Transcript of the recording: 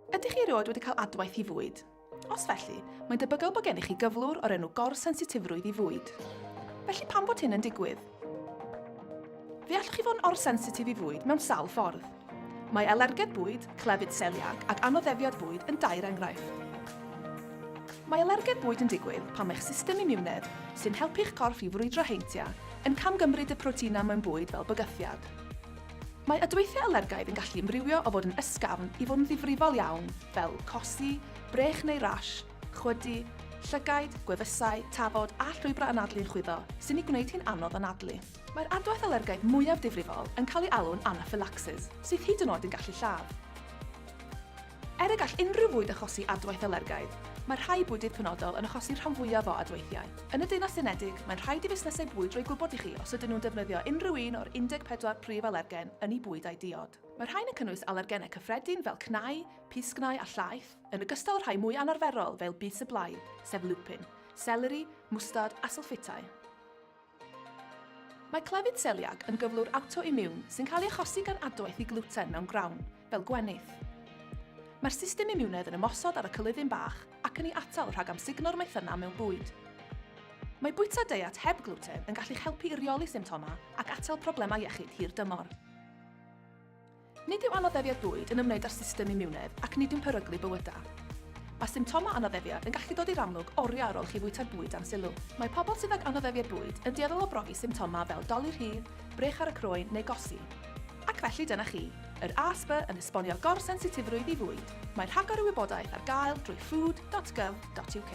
Ydych chi erioed wedi cael adwaith i fwyd? Os felly, mae'n debygol bod gennych chi gyflwr o'r enw gorsensitifrwydd i fwyd. Felly pam bod hyn yn digwydd? Fe allwch chi fod yn orsensitif i fwyd mewn sawl ffordd. Mae alergedd bwyd, clefyd seliac ac anoddefiad bwyd yn dair enghraifft. Mae alergedd bwyd yn digwydd pan mae'ch system imiwnedd, sy'n helpu'ch corff i frwydro heintiau, yn camgymryd y proteinau mewn bwyd fel bygythiad. Mae adweithiau alergaidd yn gallu ymrywio o fod yn ysgafn i fod yn ddifrifol iawn, fel cosi, brech neu rash, chwydu, llygaid, gwefusau, tafod a llwybrau anadlu'n chwyddo, sy'n ei gwneud hi'n anodd anadlu. Mae'r adwaith alergaidd mwyaf difrifol yn cael ei alw'n anaphylaxis, sydd hyd yn oed yn gallu lladd. Er y gall unrhyw fwyd achosi adwaith alergaidd, mae rhai bwydydd penodol yn achosi'r rhan fwyaf o adweithiau. Yn y Deyrnas Unedig, mae'n rhaid i fusnesau bwyd roi gwybod i chi os ydyn nhw'n defnyddio unrhyw un o'r 14 prif alergen yn eu bwyd a'u diod. Mae'r rhain yn cynnwys alergenau cyffredin fel cnau, pysgnau a llaeth, yn ogystal â rhai mwy anarferol fel bys y blaidd, sef lupin, seleri, mwstard a sylffitau. Mae clefyd seliac yn gyflwr awtoimiwn sy'n cael ei achosi gan adwaith i glwten mewn grawn, fel gwenith. Mae'r system imiwnedd yn ymosod ar y cylydyn bach ac yn ei atal rhag amsugno'r maethynnau mewn bwyd. Mae bwyta deiet heb glwten yn gallu'ch helpu i reoli symptomau ac atal problemau iechyd hir dymor. Nid yw anoddefiad bwyd yn ymwneud â'r system imiwnedd ac nid yw'n peryglu bywydau. Mae symptomau anoddefiad yn gallu dod i'r amlwg oriau ar ôl i chi fwyta'r bwyd dan sylw. Mae pobl sydd ag anoddefiad bwyd yn dueddol o brofi symptomau fel dolur rhydd, brech ar y croen neu gosi. Ac felly dyna chi, yr ASBA yn esbonio gor-sensitifrwydd i fwyd. Mae rhagor o wybodaeth ar gael drwy food dot gov dot uk.